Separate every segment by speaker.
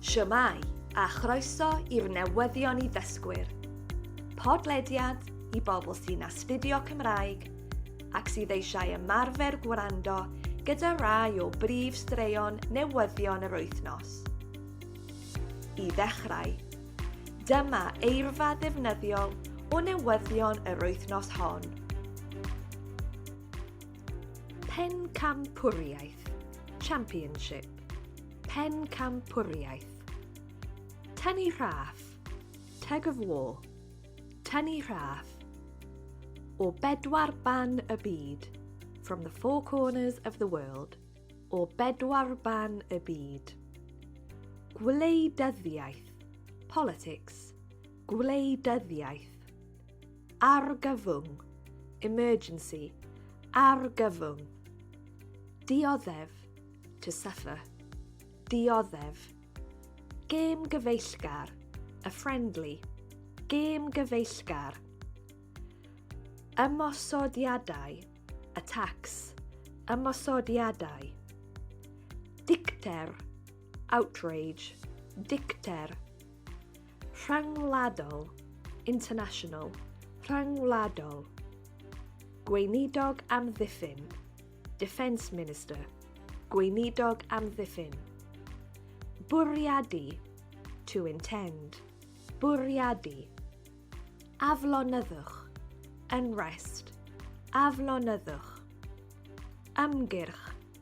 Speaker 1: Shwmae, a chroeso i'r newyddion i ddysgwyr. Podlediad i bobl sy'n astudio Cymraeg ac sydd eisiau ymarfer gwrando gyda rai o brif straeon newyddion yr wythnos. I ddechrau, dyma eirfa ddefnyddiol o newyddion yr wythnos hon. Pencampwriaeth, Championship, Pencampwriaeth. Tynnu rhaff, Tug of War, Tynnu rhaff. O bedwar ban y byd, From the four corners of the world, O bedwar ban y byd. Gwleidyddiaeth, Politics, Gwleidyddiaeth. Argyfwng, emergency, argyfwng. Dioddef, to suffer. Dioddef. Gêm gyfeillgar, a friendly. Gêm gyfeillgar. Ymosodiadau, attacks. Ymosodiadau. Dicter, outrage. Dicter. Rhyngwladol, international, rhyngwladol. Gweinidog amddiffyn, defence minister, gweinidog amddiffyn. Bwriadu, to intend, bwriadu. Aflonyddwch, unrest, aflonyddwch. Ymgyrch,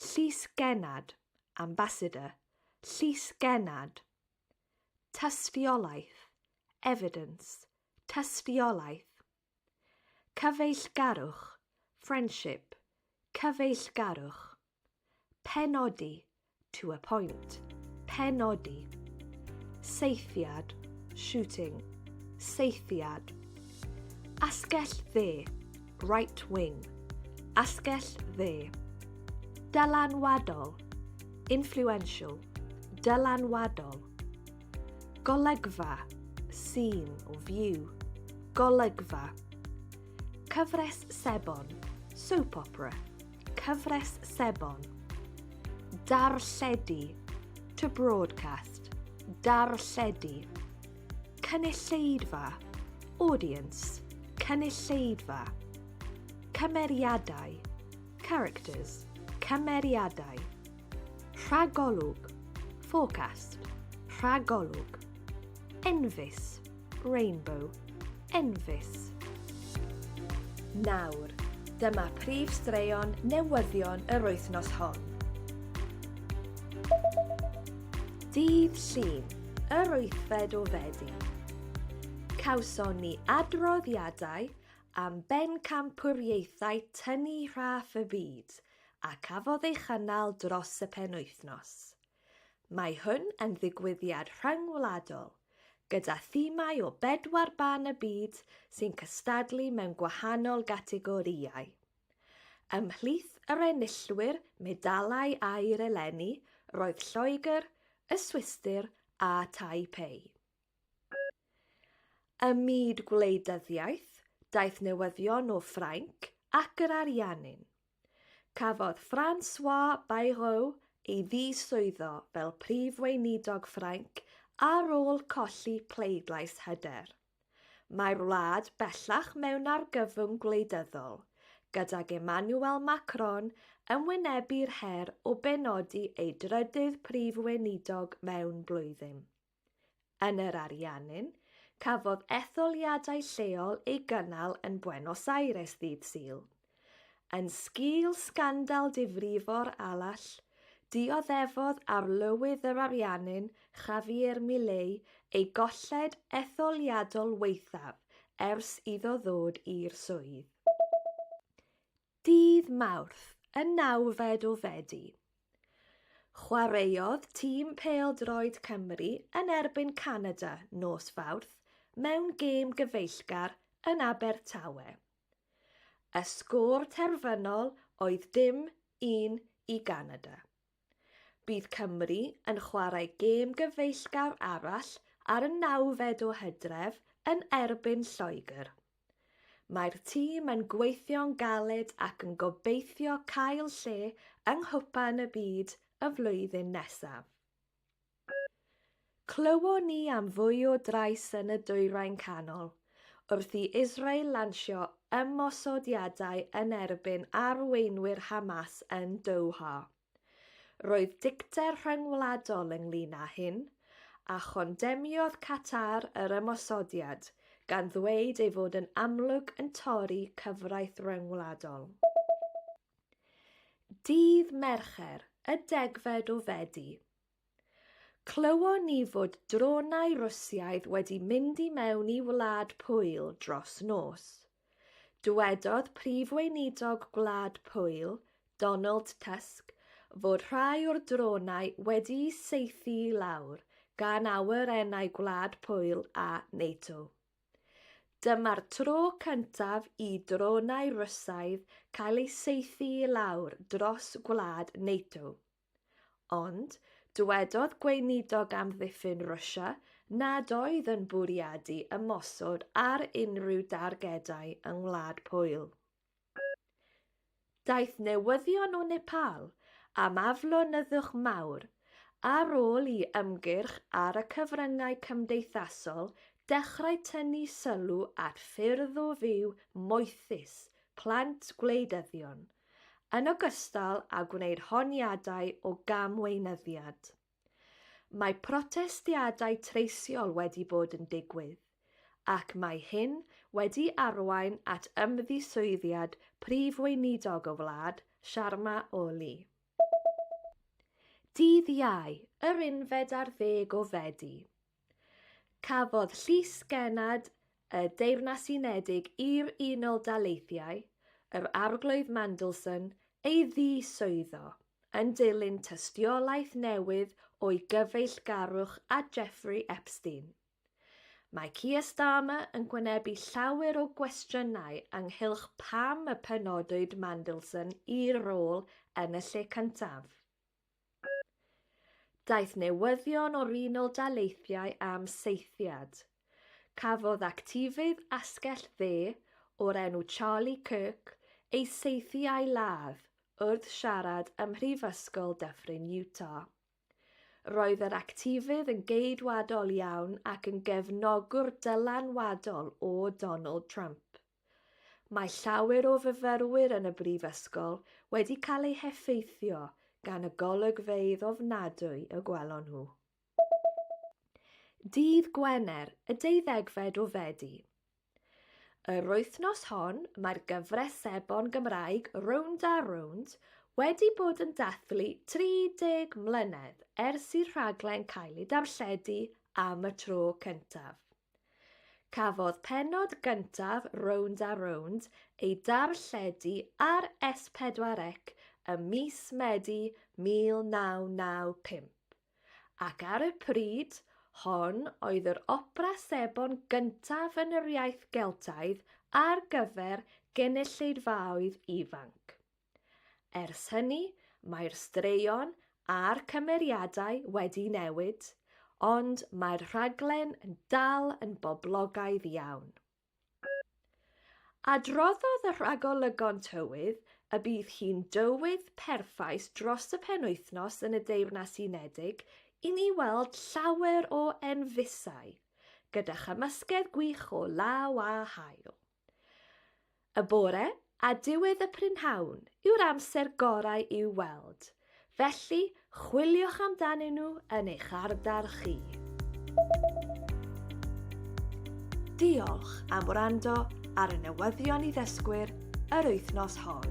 Speaker 1: Llys Genad, Ambassador, Llys Genad. Tystiolaeth, Evidence, Tystiolaeth. Cyfeillgarwch, Friendship, Cyfeillgarwch. Penodi, to a point, penodi, seithiad, shooting, seithiad, asgell dde, right wing, asgell dde, dylanwadol, influential, dylanwadol, golygfa, scene or view, golygfa, cyfres sebon, soap opera, Cyfres sebon. Darlledu. To broadcast. Darlledu. Cynulleidfa. Audience. Cynulleidfa. Cymeriadau. Characters. Cymeriadau. Rhagolwg, forecast, rhagolwg. Enfys, rainbow, enfys. Nawr, dyma prif straeon newyddion yr wythnos hon. Dydd Llun, yr wythfed o Fedi. Cawson ni adroddiadau am bencampwriaethau tynnu rhaff y byd – a cafodd ei chynnal dros y penwythnos. Mae hwn yn ddigwyddiad rhyngwladol, gyda thimau o bedwar ban y byd sy'n cystadlu mewn gwahanol gategorïau. Ymhlith yr enillwyr medalau aur eleni roedd Lloegr, y Swistir a Taipei. Ym myd gwleidyddiaeth, daeth newyddion o Ffrainc ac yr Ariannin. Cafodd François Bayrou ei ddiswyddo fel Prif Weinidog Ffrainc ar ôl colli pleidlais hyder. Mae'r wlad bellach mewn argyfwng gwleidyddol, gydag Emmanuel Macron yn wynebu'r her o benodi ei drydydd Prif Weinidog mewn blwyddyn. Yn yr Ariannin, cafodd etholiadau lleol ei gynnal yn Buenos Aires ddydd Sul. Yn sgîl sgandal difrifo'r allt, dioddefodd Arlywydd yr Ariannin, Javier Milei, ei golled etholiadol waethaf ers iddo ddod i'r swydd. Ddydd Mawrth, y nawfed o Fedi, chwaraeodd tîm pêl-droed Cymru yn erbyn Canada nos Fawrth mewn gêm gyfeillgar yn Abertawe. Y sgôr terfynol oedd dim un i Ganada. Bydd Cymru yn chwarae gêm gyfeillgar arall ar y nawfed o Hydref yn erbyn Lloegr. Mae'r tîm yn gweithio'n galed ac yn gobeithio cael lle yng Nghwpan y Byd y flwyddyn nesaf. Clywon ni am fwy o drais yn y Dwyrain Canol wrth i Israel lansio ymosodiadau yn erbyn arweinwyr Hamas yn Doha. Roedd dicter rhyngwladol ynglŷn â hyn, a chondemniodd Qatar yr ymosodiad, gan ddweud ei fod yn amlwg yn torri cyfraith ryngwladol. Dydd Mercher, y degfed o Fedi, Clywon ni fod dronau Rwsiaidd wedi mynd i mewn i Wlad Pwyl dros nos. Dywedodd Prif Weinidog Gwlad Pwyl, Donald Tusk, fod rhai o'r dronau wedi'u saethu i lawr gan awyrennau Gwlad Pwyl a NATO. Dyma'r tro cyntaf i dronau Rwsiaidd cael eu saethu i lawr dros gwlad NATO. Ond, dywedodd Gweinidog Amddiffyn Rwsia nad oedd yn bwriadu ymosod ar unrhyw dargedau yng Ngwlad Pwyl. Daeth newyddion o Nepal am aflonyddwch mawr ar ôl i ymgyrch ar y cyfryngau cymdeithasol dechrau tynnu sylw at ffyrdd o fyw moethus plant gwleidyddion yn ogystal â gwneud honiadau o gamweinyddiad. Mae protestiadau treisiol wedi bod yn digwydd, ac mae hyn wedi arwain at ymddiswyddiad Prif Weinidog y wlad, Sharma Oli. Dydd Iau, yr unfed ar ddeg o Fedi, Cafodd Llys Gennad y Deyrnas Unedig i'r Unol Daleithiau, yr Arglwydd Mandelson, ei ddiswyddo, yn dilyn tystiolaeth newydd o'i gyfeillgarwch â Jeffrey Epstein. Mae Keir Starmer yn gwynebu llawer o gwestiynau ynghylch pam y penodwyd Mandelson i'r rôl yn y lle cyntaf. Daeth newyddion o'r Unol Daleithiau am saethiad. Cafodd actifydd asgell dde o'r enw Charlie Kirk ei saethu a'i ladd wrth siarad ym Mhrifysgol Dyffryn Utah. Roedd yr actifydd yn geidwadol iawn ac yn gefnogwr dylanwadol o Donald Trump. Mae llawer o fyfyrwyr yn y Brifysgol wedi cael eu heffeithio gan y golygfeydd ofnadwy y gwelon nhw. Dydd Gwener, y deuddegfed o Fedi. Yr wythnos hon, mae'r gyfres sebon Gymraeg Rownd a Rownd wedi bod yn dathlu 30 mlynedd ers i'r rhaglen cael ei darlledu am y tro cyntaf. Cafodd pennod gyntaf Rownd a Rownd ei darlledu ar S4C ym mis Medi 1995, ac ar y pryd hon oedd yr opera sebon gyntaf yn yr iaith Geltaidd ar gyfer gynulleidfaoedd ifanc. Ers hynny, mae'r straeon a'r cymeriadau wedi newid, ond mae'r rhaglen yn dal yn boblogaidd iawn. Adroddodd y rhagolygon tywydd y bydd hi'n dywydd perffaith dros y penwythnos yn y Deyrnas Unedig i ni weld llawer o enfysau, gyda chymysgedd gwych o law a haul. Y bore a diwedd y prynhawn yw'r amser gorau i'w weld, felly chwiliwch amdanyn nhw yn eich ardal chi. Diolch am wrando ar y newyddion i ddysgwyr yr wythnos hon.